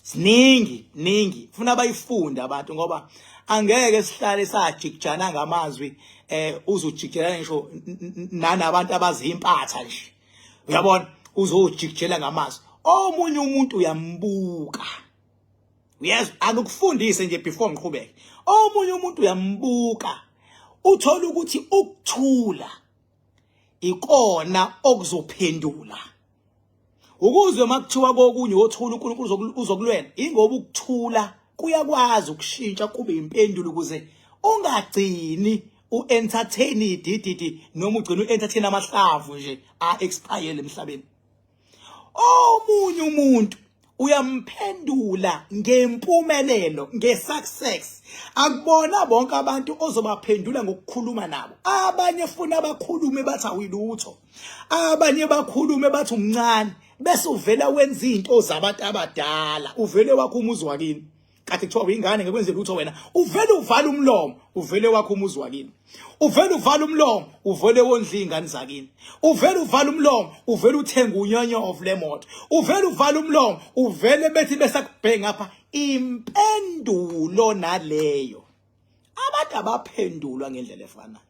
siningi ningi funa bayifunde abantu ngoba angeke sihlale sajikijana ngamazwi eh uzojikijela ngisho nanabantu abazimpatha nje uyabona uzojikijela ngamazwi omunye umuntu uyambuka uyezwa angikufundise nje before ngiqhubeke omunye umuntu uyambuka uthola ukuthi ukuthula ikona okuzophendula ukuzwe makuthiwa kokunye wothula uNkulunkulu uzokulwela ingoba ukuthula kuyakwazi ukushintsha kube impendulo ukuze ungagcini u-entertain idididi noma ugcina u-entertain amahlavu nje a-expire emhlabeni omunye umuntu uyamphendula ngempumelelo ngesuccess akubona bonke abantu ozobaphendula ngokukhuluma nabo abanye funa abakhulume bathi awilutho abanye bakhulume bathi umncane bese uvela wenza izinto zabantu abadala uvele wakho umuzi wakini kade kuthiwa uyingane ngekwenze lutho wena uvele uvala umlomo uvele wakho umuzi wakini uvele uvala umlomo uvele wondla ingane zakini uvele uvala umlomo uvele uthenga unyonyo of lemoto uvele uvala umlomo uvele bethi besakubhenga apha impendulo naleyo abantu abaphendulwa ngendlela efanayo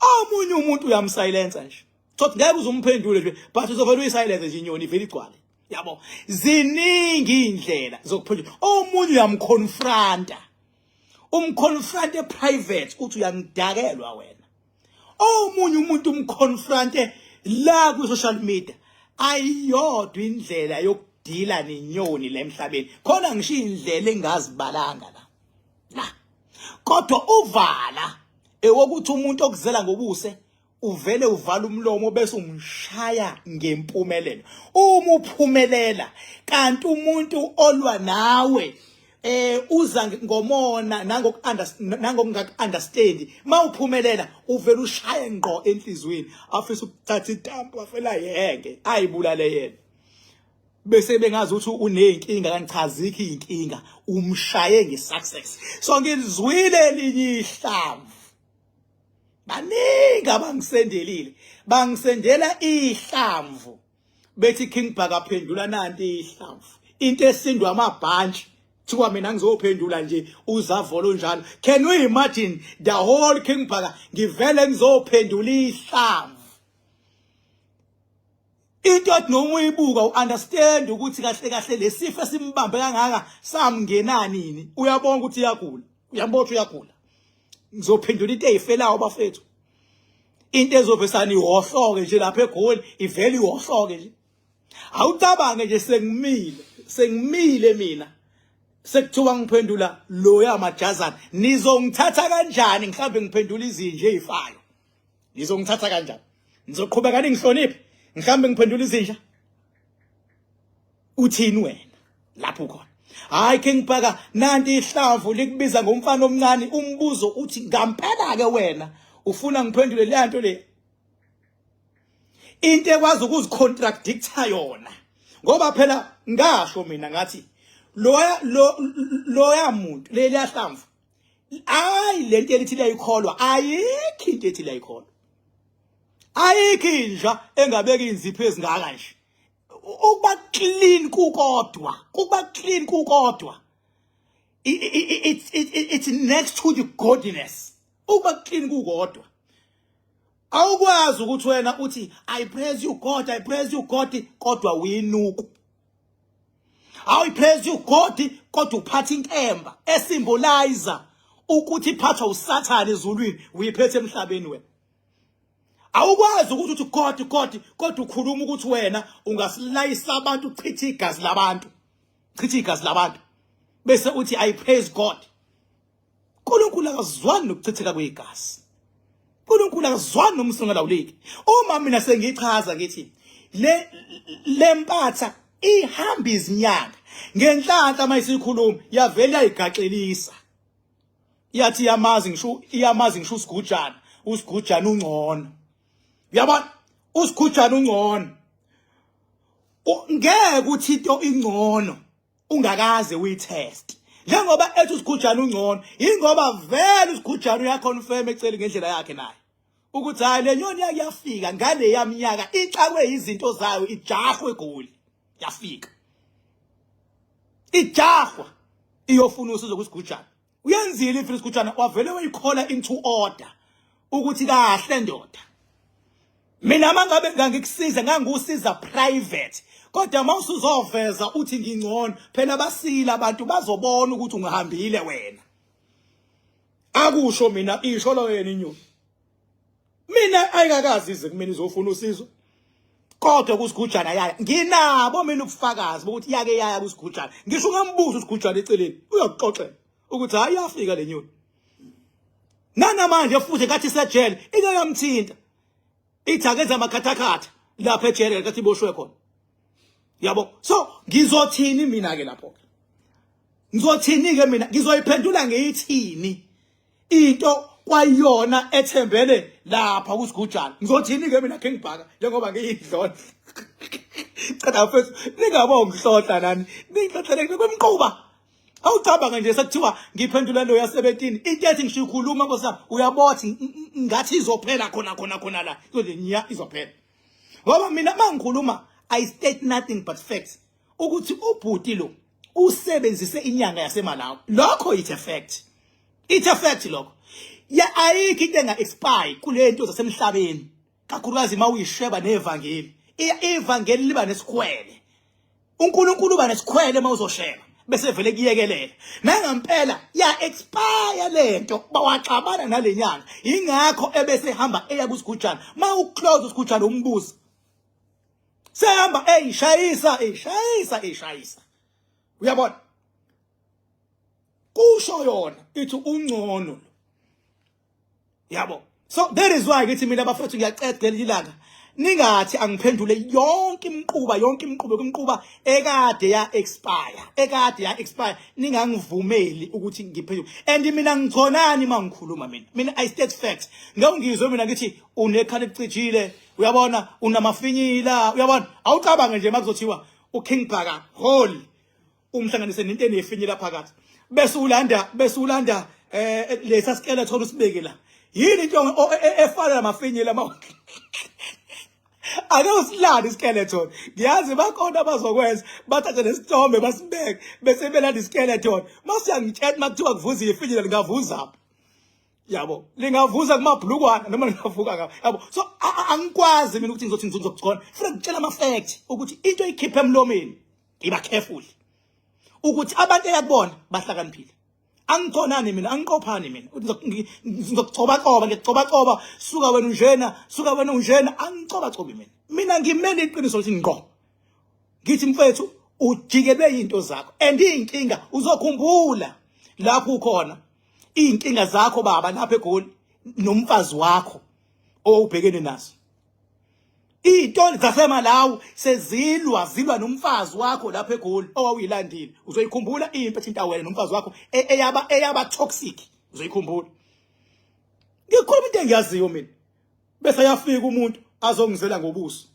omunye umuntu uyamsilensa nje thothi ngeke uzumphendule nje but uzovela uyisilence nje inyoni ivele igcwale yabo ziningi indlela zokuphendula omunye uyamconfronta umconfronte private uthi uyangidakelwa wena omunye umuntu umconfronte la ku social media ayiyodwa indlela yokudila nenyoni la emhlabeni khona ngisho indlela engazibalanga la la kodwa uvala ewokuthi umuntu okuzela ngobuse uvele uvala umlomo bese umshaya ngempumelelo uma uphumelela kanti umuntu olwa nawe eh uza ngomona nangoku nangokungaku understand mawuphumelela uvela ushaye ngqo enhlizweni afisa ukuthatha itampu afela yeke ayibulale yena bese bengazi ukuthi unenkinga kangichaziki inkinga umshaye ngesuccess so ngizwile elinye ihlamvu baningi abangisendelile bangisendela ihlamvu bethi King Bhaka phendula nanti ihlamvu into esindwa amabhantshi thiwa mina ngizophendula nje uzavolo njalo can you imagine the whole King Bhaka ngivele ngizophendula ihlamvu into othi noma uyibuka uunderstand ukuthi kahle kahle lesifo esimbambe kangaka samngena nini uyabonga ukuthi uyagula uyambotha uyagula ngizophendula into eyifelayo bafethu into ezovesana ihohloke nje lapha egoli ivele ihohloke nje awucabange nje sengimile sengimile mina sekuthiwa ngiphendula loya majazana nizongithatha kanjani mhlawumbe ngiphendula izinje ezifayo nizongithatha kanjani nizoqhubeka ningihloniphe mhlawumbe ngiphendula izinja uthini wena lapho ukhona hayi ke ngibhaka nanti ihlavu likubiza ngomfana omncane umbuzo uthi ngampela ke wena ufuna ngiphendule le nto le into ekwazi ukuzicontractha yona ngoba phela ngasho mina ngathi loya loya muntu leli ahlamvu ayi lento elithi liyayikholwa ayikho into ethi liyayikholwa ayikho inja engabeki inzipho ezingaka nje ukuba clean kukodwa kuba clean kukodwa it's it's next to the godliness ukuba clean kukodwa awukwazi ukuthi wena uthi i praise you god i praise you god kodwa uyinuku awu i praise you god kodwa uphatha inkemba esimbolizer ukuthi iphathwa usathane ezulwini uyiphethe emhlabeni wena awukwazi ukuthi uthi koti koti kodwa ukhuluma ukuthi wena ungasilayisa abantu uchithe igazi labantu chithe igazi labantu bese uthi i praise god uNkulunkulu akazwani nokuchitheka kwegazi uNkulunkulu akazwani nomsungela uliki uma mina sengichaza ngithi le lempatha ihamba izinyanga ngenhlanhla mayisikhuluma yavela igaxelisa iyathi iyamazi ngisho iyamazi ngisho usigujana usigujana ungcono yabona usigujana ungcono ngeke ukuthi into ingcono ungakaze uyitest njengoba ethi usigujana ungcono ingoba vele usigujana uyaconfirm eceli ngendlela yakhe naye ukuthi hayi le nyoni yake yafika ngale yamnyaka ixakwe izinto zayo ijahwe egoli yafika ijahwa iyofuna usizo kwisigujana uyenzile ifile isigujana wavele wayikhola into order ukuthi kahle ndoda mina mangabe ngangikusiza ngangikusiza private kodwa mawusuzoveza uthi ngingcono phela basile abantu bazobona ukuthi ungihambile wena akusho mina isho lo yena inyoni mina ayikakazi ize kumina izofuna usizo kodwa kusigujana yaya nginabo mina ubufakazi bokuthi yake yaya kusigujana ngisho ungambuza usigujana eceleni uyokuxoxela ukuthi hayi yafika lenyoni nanamanje futhi kathi sejele ingeke yamthinta ithi akenze amakhathakhatha lapha ejele likathi iboshwe khona yabo so ngizothini mina ke lapho ke ngizothini ke mina ngizoyiphendula ngeyithini into kwayona ethembele lapha kusigujana ngizothini ke mina ke ngibhaka njengoba ngiyidlona cela mfethu ningabongihlodla nani ningihlohlele kwemquba awucabanga nje sekuthiwa ngiphendula lo yasebetini into ethi ngisho ikhuluma nkosana uyabothi ngathi izophela khona khona khona la izothi nya izophela ngoba mina mangikhuluma i state nothing but facts ukuthi ubhuti lo usebenzise inyanga yasemalawi lokho it's a fact it's a fact lokho ya ayikho into enga expire kulento zasemhlabeni kakhulukazi uma uyisheba nevangeli ivangeli liba nesikhwele uNkulunkulu uba nesikhwele uma uzosheba bese vele kuyekelela nangampela ya expire lento bawaxabana nalenyanga ingakho ebese hamba eya kusigujana ma uclose usigujana umbuzo sehamba eyishayisa eyishayisa eyishayisa uyabona kusho yona ithi ungcono yabo so there is why ngithi mina bafethu ngiyaqeda leli langa ningathi angiphendule yonke imquba yonke imqubo kumquba ekade ya expire ekade ya expire ningangivumeli ukuthi ngiphendule and mina ngichonani mangikhuluma mina mina i state facts ngeke ngizwe mina ngithi unekhala ecijile uyabona unamafinyila uyabona awucabange nje makuzothiwa uking bhaka hole umhlanganise nento enefinyela phakathi bese ulanda bese ulanda eh lesa skele thola usibeke la yini into e, e, efana namafinyela ama ake usilande iskeleton ngiyazi bakhona abazokwenza bathathe nesithombe basibeke bese belanda iskeleton masiyangitshela makuthiwa kuvuza ifinyela lingavuza yabo lingavuza kumabhlukwana noma lingavuka ngabo yabo so angikwazi mina ukuthi ngizothi ngizothi khona funa ngitshela ama fact ukuthi into ikhiphe emlomeni iba careful ukuthi abantu eyakubona bahlakaniphile angikhonani mina angiqophani mina ngizokugcobacoba ngiyagcobacoba suka wena unjena suka wena unjena angicobacobi mina mina ngimele iqiniso lithi ngqo ngithi mfethu ujikelwe into zakho and inkinga uzokhumbula lapho ukhona inkinga zakho baba lapha egoli nomfazi wakho owubhekene nazo Iy'toli zaseMalawi sezilwa zilwa nomfazi wakho lapha eGoli owawuyilandile. Uzoyikhumbula impi ethinta wena nomfazi wakho e-, eyaba eyaba toxic. Uzoyikhumbula. Ngikhuluma into engiyaziyo mina. Bese yafika umuntu azongizela ngobuso.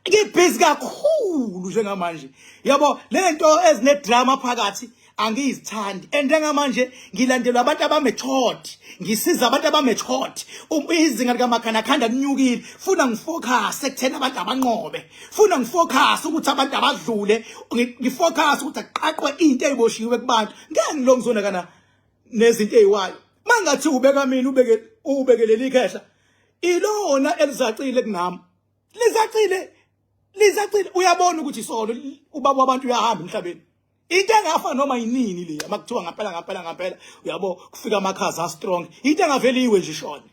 Ngibhizi kakhulu njengamanje. Yabo lento ezine drama phakathi angizithandi and njengamanje ngilandelwa abantu abamethod ngisiza abantu abamethod um, izinga likaMakhanda khanda linyukile funa ngifocus ekuthena abantu abanqobe funa ngifocus ukuthi abantu abadlule ngifocus ukuthi aqaqwe into eziboshiwe kubantu ngeke ngilongizona kana nezinto eziwayo mangathi ubeka mina ubeke ubekelele ikhehla ilona elizacile kunami lizacile lizacile uyabona ukuthi isolo ubaba wabantu uyahamba emhlabeni into engafa noma yinini le makuthiwa ngampela ngampela ngampela uyabo kufika amakhaza a strong into engaveli iwe nje shona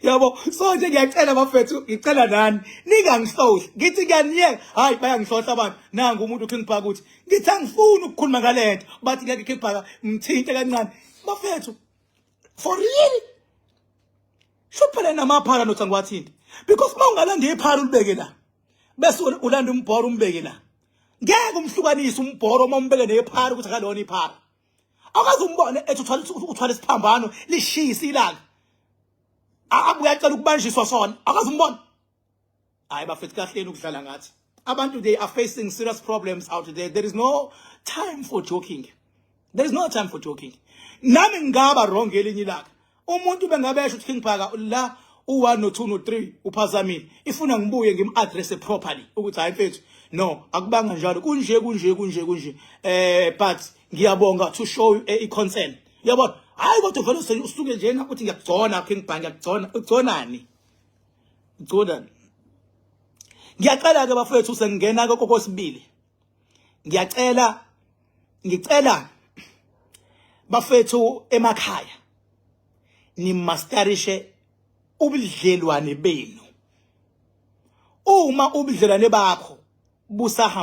yabo so nje ngiyacela bafethu ngicela nani ningangisohli ngithi ngiyaniyeka hayi bayangisohla abantu nangu umuntu uthi ngibhaka ukuthi ngithi angifuni ukukhuluma ngalento bathi ngeke khibhaka ngithinte kancane bafethu for real Shuphele namaphara nothi angiwathinte because uma ungalanda iphara ulibeke la bese ulanda umbhoro umbeke la ngeke umhlukanise umbhoro uma umbeke nephara ukuthi akalona iphara akaze umbone ethi uthwala uthwala isiphambano lishisa ilanga abuya cela ukubanjiswa sona akaze umbone hayi bafethu kahleni ukudlala ngathi abantu they are facing serious problems out there there is no time for joking there is no time for joking nami ngingaba wrong elinye ilaka umuntu bengabe esho ukuthi king phaka la u1 no 2 no 3 uphazamile ifuna ngibuye ngimaddress properly ukuthi hayi mfethu no akubanga njalo kunje kunje kunje kunje eh but ngiyabonga to show you eh, i concern yabona hayi kodwa vele usuke njena uthi ngiyakugcona king bang ngiyakugcona ugconani Jordan ngiyacela ke bafethu sengena ke kokosibili ngiyacela ngicela bafethu emakhaya nimastarishe ubudlelwane benu uma ubudlelwane bakho busahamba